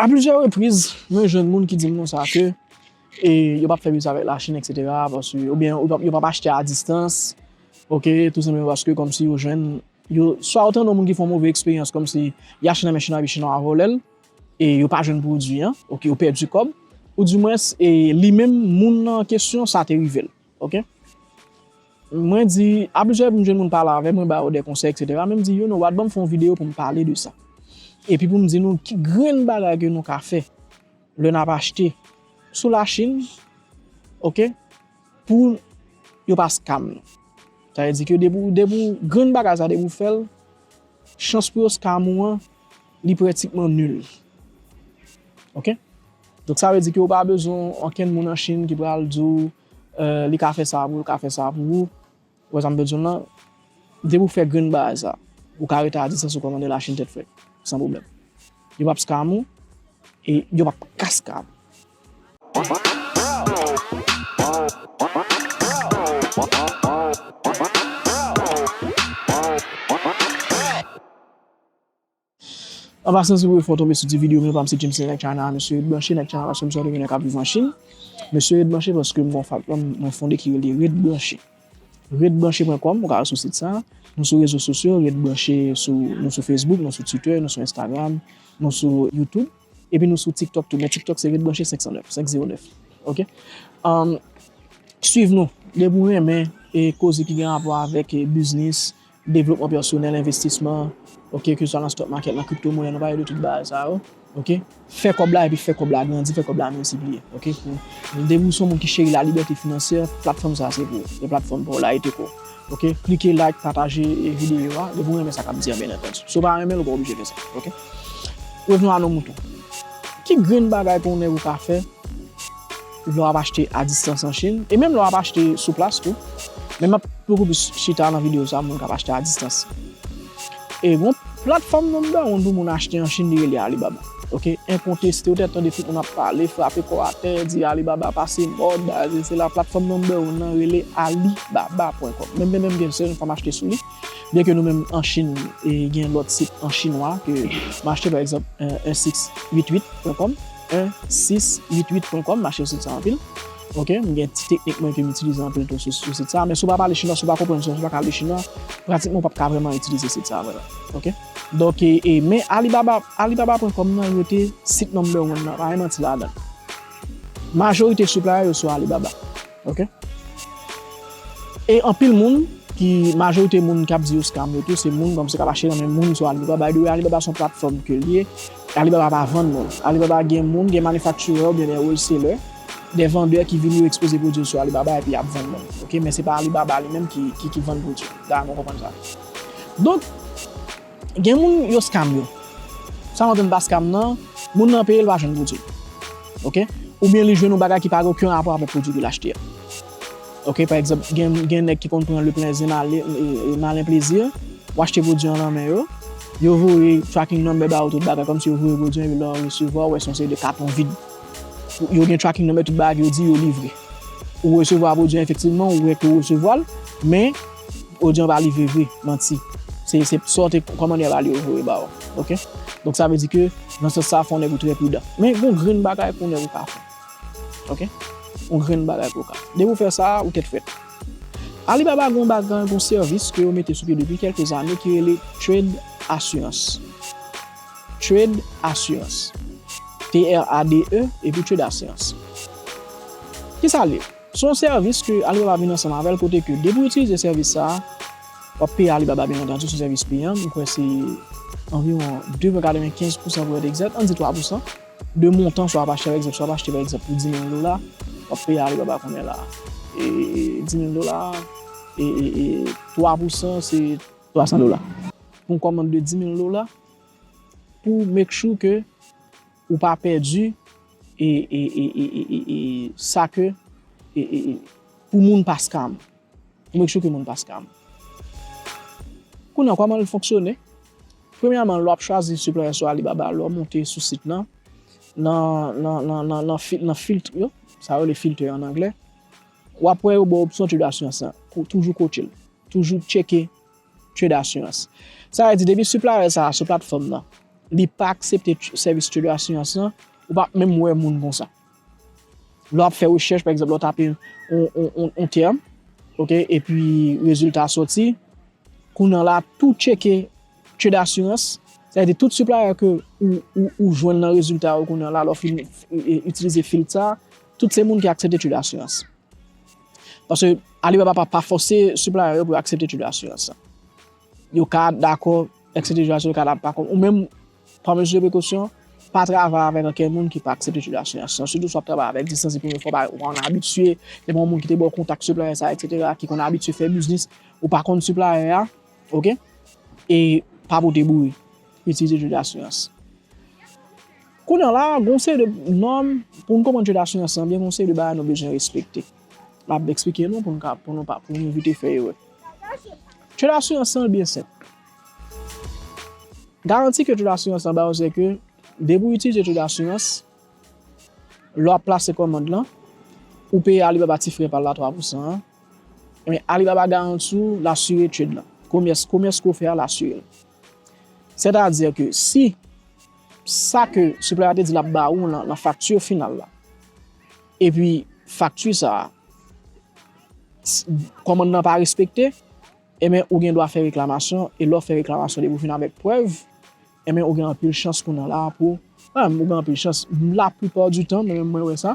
A plizyè repriz, mwen jwenn moun ki di m konsa ke yo pap fè biznis avèk Lachin eksetera, paske oubyen yo pap achte a distans, ok, tou senpleman paske kòmsi yo jwenn, yo, swa ou tande yon moun ki fè yon move eksperyans kòmsi li achte nan men chinwa epi chinwa a vòlè l, e yo pa jwenn pwodui an, ok, yo pèdi kòb, ou dimwens e li menm moun nan kesyon sa te rive l. Ok Mwen di a plizyè m jwenn moun pale avèm mwen ba yo de konsèy etc men m di you no wat banm fè yon video poum pale de sa epi poum di nou ki grenn bagay ke nou ka fè lè nap achte sou la chine ok pou yo pa scam nou sa vle di ke depi ou depi ou grenn bagay sa depi ou fèl chans pou yo scam ou an li prètikman nul ok. Donk sa vle di ke ou pa bezwen okenn moun an Chine ki pral di w li ka fè sa pou ou, li ka fè sa pou ou. Ou wè sa m vle di w lan? Depi ou fè grenn bagay sa, ou ka rete a distans ou kòmande la Chine tèt frèt, san pwoblèm. Yo pap scam ou e yo pap ka scam ou. An pasan si ou fè w tonbe sou ti video m yo pa m se Jameson nèg China a mesye ret branche nèg China paske m sonje gen nèg kap viv an Chine mesye ret branche paske m gen yon fabpam mwen fonde ki rele ret branche ret branche pwen kòm ou ka al sou sit sa nou sou rezo sosyo ret branche sou nou sou Facebook nou sou Twitter nou sou Instagram nou sou YouTube epi nou sou TikTok tou men TikTok se ret branche 509 509 ok ann swiv nou depi w renmen e koze ki gen rapò avèk biznis. Devlopman pèsonèl, envestisman, ok, ke sa nan stock market, nan crypto money, nou pale de tout bagay sa yo, ok. Fè kòb la epi fè kòb la grandi, fè kòb la miltipliye, ok. Depi ou son moun ki cheri la libète finansyè, platfòm sa se pou ou, se platfòm pa w la, e te ko. Ok, klike like, pataje videyo a, depi ou renmen sa kap di a byen antandu. Si w pa renmen l, ou pa oblije fè sa, ok. Revenons à nos moutons. Ki grenn bagay ke yon nèg ou ka fè? Lè wap achte a distans an Chine e menm lè wap achte sou plas tou men map poko plis chita nan video sa moun kap achte a distans e gon platfòm nan dawonn pou moun achte an Chine li rele Alibaba ok enkonteste ou tè tande tout moun ap pale frape kò atè di Alibaba pase mòd bagay si sela platfòm nan dawonn nan rele Alibaba pwen kòm menm menm gen sèl fòm achte sou li byen ke nou menm an Chine e gen lòt sit an chinwa ke m achte pa egzanp 1688 pwen kòm. 1 6 8 8 pwen kòm mache sou sit sa anpil ok m gen ti teknik mwen ke m itilize anpil tou sou sit sa men si w pa pale chinwa si w pa konprann chinwa si w pa ka li chinwa pratikman w pap ka vrèman itilize sit sa vre ok donk e men alibaba alibaba pwen kòm nan yo te sit number one nan pa gen manti ladan majorite supply yo sou alibaba. Ok. E anpil moun ki majorite moun kap di yo scam yo tou se moun banm se kap achte nan men moun sou Alibaba by the way Alibaba son platfòm ke li ye Alibaba pa vann non Alibaba gen moun gen manufacturer oubyen des wholesaler des vendeurs ki vini yo ekspoze pwodwi yo sou Alibaba epi yap vann moun ok men se pa Alibaba li menm ki vann pwodwi da nou konprann sa donk Gen moun yo scam yo. Sa mwen konn pa scam nan, moun nan peye li pa jwenn pwodwi. Ok. Oubyen li jwenn yon bagay ki pa gen oken rapò avèk pwodwi ke li achte a. Ok, pa egzanp, gen nèg ki konn pran le plezi malen plezi, ou achte pwodwi an nan men yo, yo voye tracking number ba ou tout bagay kòmsi yo voye pwodwi an epi lè ou resevwa ou wè se yon seri de katon vid. Yo gen tracking number tout bagay ke yo di yo livre. Ou resevwa pwodwi an efektivman, ou wè ke ou resevwa l, men. Odyon pa live vre, manti. Se sa w te kòmande yo ba li yo voye ba ou. Ok? Donk sa vle di ke nan sans sa fò w nèg ou trè pridan. Men gen yon grenn bagay pou nèg ou ka fè. Ok? Yon grenn bagay pou ou ka fè. Depi ou fè sa, ou tèt frèt. Alibaba gen yon bagay, gen yon sèvis ke yo mete sou pye depi kèlke zane ki rele Trade Assurance. Trade Assurance. T-r-a-d-e epi Trade Assurance. Ki sa l ye? Se yon sèvis ke Alibaba vin ansanm avèl kote ke depi ou itilize sèvis sa a, wap peye Alibaba byen antandi sou sèvis li an, m kwè se anviwon 2,95 pousan pou w èt egzat, ann di 3 pousan, de montan sa w ap achte pa egzanp, si w ap achte pa egzanp pou 10,000 dola, wap peye Alibaba konbyen la a? 10,000 dola, e 3 pousan se 300 dola. Pou yon kòmand de 10,000 dola, pou make sure ke Ou pa pèdi e sa ke pou moun paskam. Pou make sure ke moun paskam. Kounye an kòman li fonksyone? Premyèman lè wap chwazi siplier sou Alibaba, lè w monte sou sit lan, nan filtre yo, sa yo rele filter an anglè, wap wè yo ba w opsyon to do assurance lan. Toujou kote l. Toujou tcheke. Trade Assurance. Sa vle di depi supplier sa a sou platfòm nan, li pa aksepte sèvis Trade Assurance lan, ou pap menm wè moun konsa. Lè w ap fè rechèch, pa egzanp, lè w tape yon tèm, ok, epi rezilta a soti, kounye a la tout tcheke Trade Assurance, sa vle di tout supplier ke ou jwenn nan rezilta yo kounye a la lè w fin itilize filtre sa a, tout se moun ki aksepte Trade Assurance. Paske Alibaba pa pa fòse siplayan yo pou yo aksepte tip de asirans sa. Yo ka dakò aksepte tip de asirans yo ka pa dakò. Ou menm pa mezi de prekosyon, pa travay avèk anken moun ki pa aksepte tip de asirans sa. Sitou si w ap travay avèk distans epi ou pa konn abitye, depi yon moun ki te ba w kontak siplayan sa eksetera, ki konn abitye fè biznis, ou pa konn siplayan an, ok, e pa pote bouyi. Itilize tip de asirans. Kounye a la, gen yon seri de nòm, pou n konprann je dasyans lan byen, gen yon seri de bagay nou bezwen respekte. M ap esplike nou pou n ka, pou nou pa, pou nou evite fè erè. Je dasyans lan byen senp. Garanti ke je dasyans lan ba ou se ke depi ou itilize je dasyans, lè w ap plase kòmand lan, ou peye Alibaba ti frè pa l la 3 pou san an, men Alibaba garanti ou l asire trade lan. Komès, komès ke w fè a, l asire l. Sètadi ke si sa ke siplè a te di l ap ba ou nan fakti final la, epi fakti sa a, kòmand nan pa respekte, enben ou gen dwa fè reklamasyon, e lè w fè reklamasyon depi w fin avèk prèv, enben ou gen anpil chans kounye a la pou, pa menm ou gen anpil chans, laplipa di tan mwen menm mwen wè sa.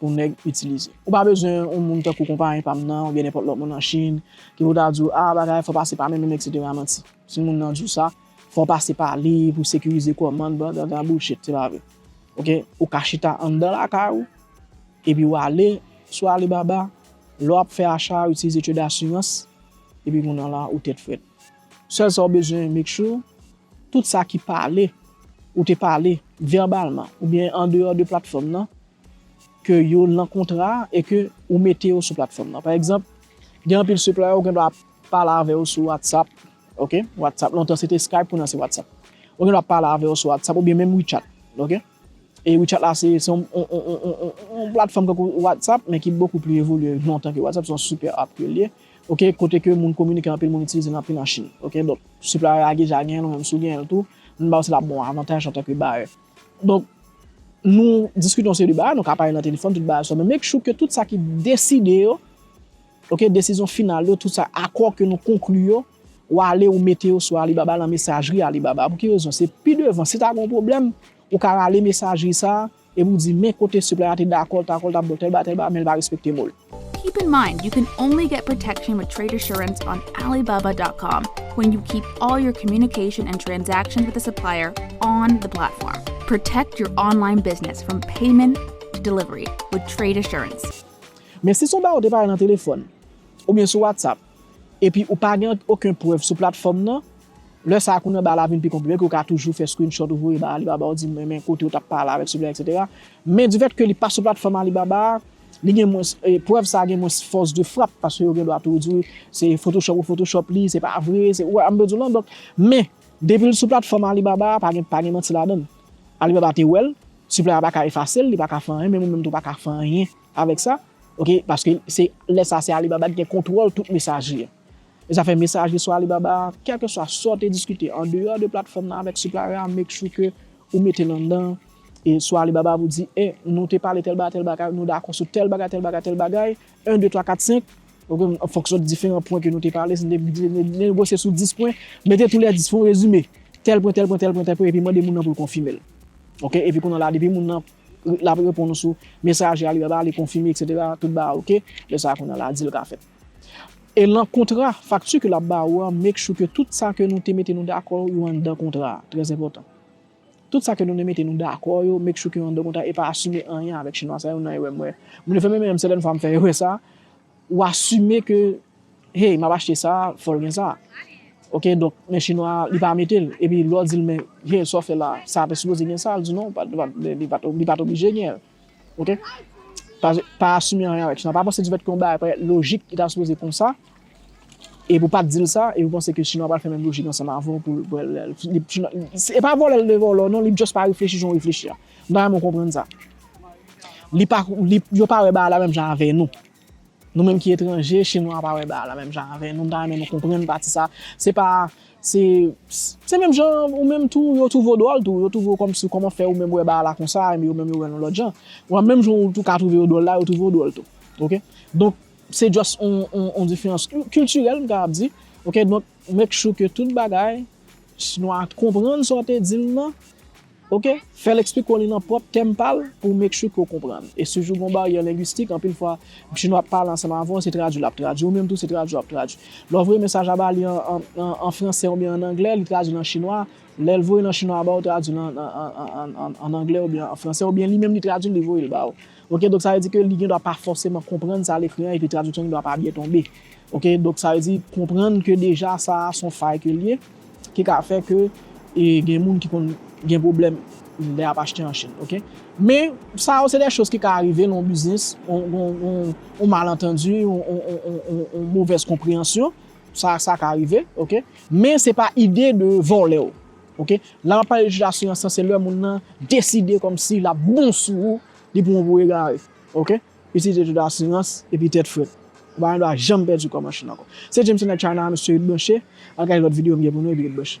pou nèg itilize. Ou pa bezwen yon moun tankou konpayen pa m nan oubyen nenpòt lòt moun an Chine ki pou ta di w, ah bagay fò pase pa men menm eksetera manti. Si moun nan di w sa, fò pase pa li pou sekirize kòmand blablabla bullshit se pa vre. Ok, ou ka chita anndan lakay ou epi w ale sou Alibaba lè w ap fè acha ou itilize trade assurance epi kounye an la ou tèt frèt. Sèl sa w bezwen make sure tout sa ki pale ou te pale verbalman oubyen andeyò de platfòm nan ke yo lan kontra a e ke ou mete yo sou platfòm lan. Pa egzanp, gen anpil supplier ou gen dwa pale avè yo sou WhatsApp, ok, WhatsApp, lontan se te Skype kounya se WhatsApp. Ou gen dwa pale avè yo sou WhatsApp oubyen menm WeChat, ok. E WeChat la se yon yon platfòm tankou WhatsApp men ki bokou pli evolye lontan ke WhatsApp, se yon super app ke li ye, ok, kote ke moun kominike anpil moun itilize l anpil an Chine, ok. Donk, supplier a deja genyen l ou menm si w genyen l tou, m ba w se l ap ba w avantaj antanke bayè. Donk, nou diskite yon seri de bagay, nou ka pale nan telefòn, tout bagay sa, men make sure ke tout sa ki deside yo, ok, desizyon final yo, tout sa, akò ke nou konkli yo, ou ale ou mete yo sou Alibaba nan mesajri Alibaba. Pou ki rezon? Se pi devan, si ta gen yon pwoblèm, ou ka rale mesajri sa a, epi ou di men kote siplèy la te dakò, l ta dakò, l ta bon tèl bagay, tèl bagay, men li pa respekte mo l. Keep in mind you can only get protection with trade assurance on Alibaba dot com when you keep all your communication and transactions with the supplier on the platform. Protect your online business from payment to delivery with trade assurance. Men si son bagay ou te pale nan telefòn, oubyen sou WhatsApp, epi ou pa gen oken prèv sou platfòm nan, lè sa a kounye ba la vin pi konplike ke ou ka toujou fè screenshot ou voye ba Alibaba ou di men kote ou tap pale avèk seulè etc. Men du fait ke li pa sou platfòm Alibaba a, Li gen mwens, prèv sa gen mwens fòs de frap paske yo gen dwa tou di se photoshop ou photoshop li, se pa vre, se, ou wè sa m vle di w lan? Donk, men, depi l sou platfòm Alibaba a, pa gen, pa gen manti ladan l. Alibaba te wè l, siplayè a pa ka efase l, li pa ka fè anyen, menm ou menm tou ou pa ka fè anyen avèk sa, ok, paske se, lè sa a se Alibaba ki gen kontwòl tout mesajri an. Zafè mesaje sou Alibaba a, kèlkeswa sa w te diskite andeyò de platfòm nan avèk supplier a make sure ke ou mete l anndan e sou Alibaba pou di e nou te pale tèl bagay tèl bagay nou dakò sou tèl bagay tèl bagay tèl bagay 1 2 3 4 5 ok an fonksyon diferan pwen ke nou te pale si nou te negosye sou 10 pwen mete tou lè 10 fè yon rezime tèl pwen tèl pwen tèl pwen tèl pwen epi mande moun nan pou l konfime l ok epi kounye w la depi moun nan l ap reponn ou sou mesaje Alibaba li konfime eksetera tout bagay ok lè sa a kounye w la dil ka fèt. E lan kontra, fakti ke lap ba ou an make sure ke tout sa ke nou te mete nou dakò yo anndan kontra a, trè enpòtan. Tout sa ke nou te mete nou dakò yo make sure ke yo anndan kontra e pa asime anyen avèk chinwa sa yo nan erè mwen. Mwen te fè menm erè sèten fwa m fè erè sa, ou asime ke hey map achte sa fòl gen sa. Ok donk men chinwa li pa mete l epi lè w di l men hey sa w fè la sa te sipoze gen sa, li di non li pat oblije gen l. Ok pa asime anyen avèk chinwa pa panse difèt ke yon bagay parèt lojik li ta sipoze konsa epi ou pat dil sa epi ou panse ke chinwa pral fè menm lojik ansanm avè w poul wè lèl e pa vòlè li vle vòlè w non li just pa reflechi jan ou reflechi a m ta renmen w konprann sa li pa yo pa wè bagay la menm jan avè nou. Nou menm ki etranje, chinwa a pa wè bagay la menm jan avè nou, m ta renmen nou konprann pati sa, se pa, se, se menm jan ou menm tou, yo twouve w dwòl tou, yo twouve w kòmsi, kòman fè ou menm wè bagay la konsa, enben yo menm yo wè l yon lòt jan, bon menm jan ou tou ka twouve yo dwòl la, yo twouve w dwòl tou, ok, donk se just yon, yon, yon diferans kiltirèl m kapab di, ok, donk make sure ke tout bagay, chinwa a konprann sa w te di l lan. Ok, fèl expliko li nan pwòp tèm pal pou w make sure ke w konprann. E si jou gon baryè lengwistik, anpil fwa bgy nou ap pale ansanm avè w se tradwi lap tradwi, ou menm tou se tradwi wap tradwi. Lè w voye mesaj a ba li an fransè oubyen an anglè, li tradwi l an chinwa, lè l voye l an chinwa a ba w, tradwi l an anglè oubyen an fransè, oubyen li menm li tradwi l li voye l ba w. Ok, donk sa vle di ke li gen dwa pa fòseman konprann sa l ekri an epi tradiksyon gen dwa pa byen tonbe. Ok, donk sa vle di konprann ke deja sa a s on fay ke l ye. ki ka fè ke gen moun ki konn gen pwoblèm lè yap achte an Chine ok men sa yo se dè choz ki ka arive nan yon biznis yon malentendi yon movèz konpreyansyon sa ka rive ok men se pa ide de vòlèw ok lè map pale de jij asirans lan se lè moun nan deside kòmsi lap bon sou ou li pran w pou egare ok. Itilize tout asirans epi tèt frèt. Ou pa gen dwa janm pèdi kò machin ankò. Se James Internet Channel a mesye ret branche, al gade lòt video m gen pou nou epi ret branche.